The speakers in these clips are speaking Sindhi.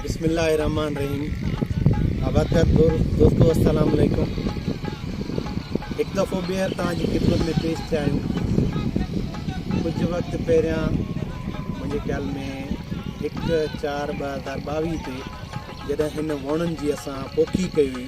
بسم الله الرحمن الرحيم آبادگار دوستو السلام عليڪم هڪ دفعو ٻيهر توهان جي خدمت ۾ پيش ٿيا آهيون ڪجهه وقت پهريان منهنجي خيال ۾ هڪ چار ٻه هزار ٻاويهه تي جڏهن هن وڻن جي اسان پوکي ڪئي هئي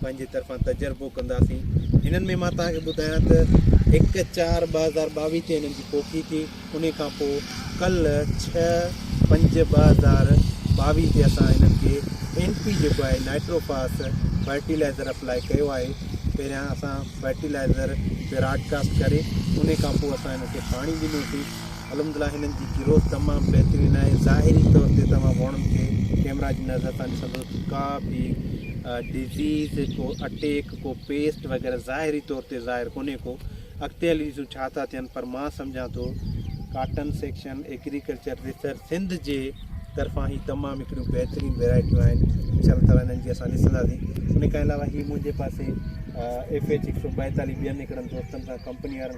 پنهنجي طرفان تجربو ڪنداسين هنن ۾ مان توهان کي ٻڌايان ته هڪ چار ٻه هزار ٻاويهه تي هنن جي پوکي ٿي ان کان پوء ڪل ڇهه پنج ٻه هزار ٻاويهه تي اسان هنن کي اين پي جيڪو آهي نائٽرو فاس فرٽيلائزر اپلائي ڪيو آهي پهريان اسان فرٽيلائزر براڊڪاسٽ ڪري ان کان پوء اسان هنن کي پاڻي ڏنوسين الحمدلله هنن جي گروٿ تمام بهترين آهي ظاهري طور تي توهان وڻن کي ڪيمرا جي نظر سان ڏسندو ڪا به ڊزيز ڪو اٽيڪ ڪو پيسٽ وغيرہ ظاهري طور تي ظاهر ڪونهي ڪو اڳتي هلي ڏسون ڇا ٿا ٿين پر مان سمجهان ٿو cotton section agriculture research Sindh جي طرفان هي تمام هڪڙيون بهترين ويرائٽيون آهن انشاء الله تعالیٰ هنن جي اسان ڏسنداسين ان کان علاوه هي منهنجي پاسي ايف ايچ هڪ سو ٻائيتاليھ ٻين هڪڙن دوستن سان ڪمپني وارن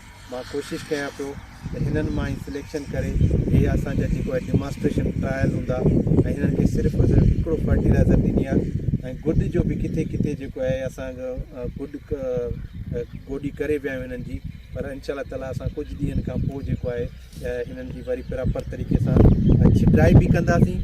مان ڪوشش ڪيان پيو ته هنن مان ئي سليڪشن ڪري هي اسان جا جيڪو آهي ڊيماسٽريشن ٽرائل هوندا ۽ هنن کي صرف ۽ صرف هڪڙو فرٽيلائزر ڏني آهي ۽ گڏ جو به ڪٿي ڪٿي جيڪو آهي اسان جو گڏ گوڏي ڪري ويا آهيون هنن جي پر انشاء الله تعالٰي اسان ڪجهه ڏينهن کان پوء جيڪو آهي هنن جي وري پراپر طريقي سان ڇٽائي به ڪنداسين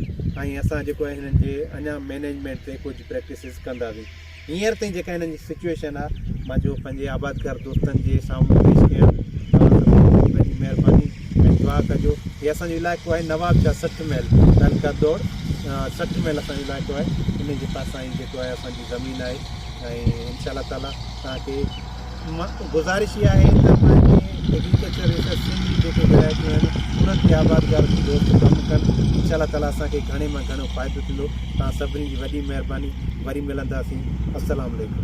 ۽ اسان جيڪو آهي هنن جي اڃا مينيجمينٽ تي ڪجهه پريڪٽسز ڪنداسين هينئر تائين جيڪا هنن جي سچويشن آ مان جو پنهنجي آبادگار دوستن جي سامهون پيش ڪيان وڏي وڏي مهرباني ۽ دعا ڪجو هي اسان جو علائقو آهي نواب شاهه سٺ ميل تعلقه دور سٺ ميل اسان جو علائقو آهي ان جي پاسان ئي جيڪو آهي اسان جي زمين آهي ۽ انشاء الله تعاليٰ تهان کي گذارش اها آهي ته پنهنجي ايگريڪلچر ريسرچ سيل جي جيڪي ولايتون آهن انهن کي آباد گار جي طور تي ڪم ڪن انشاء الله تعالٰي اسان کي گهڻي مان گهڻو فائدو ٿيندو توهان سڀني جي وڏي مهرباني وري ملنداسين السلام عليڪم.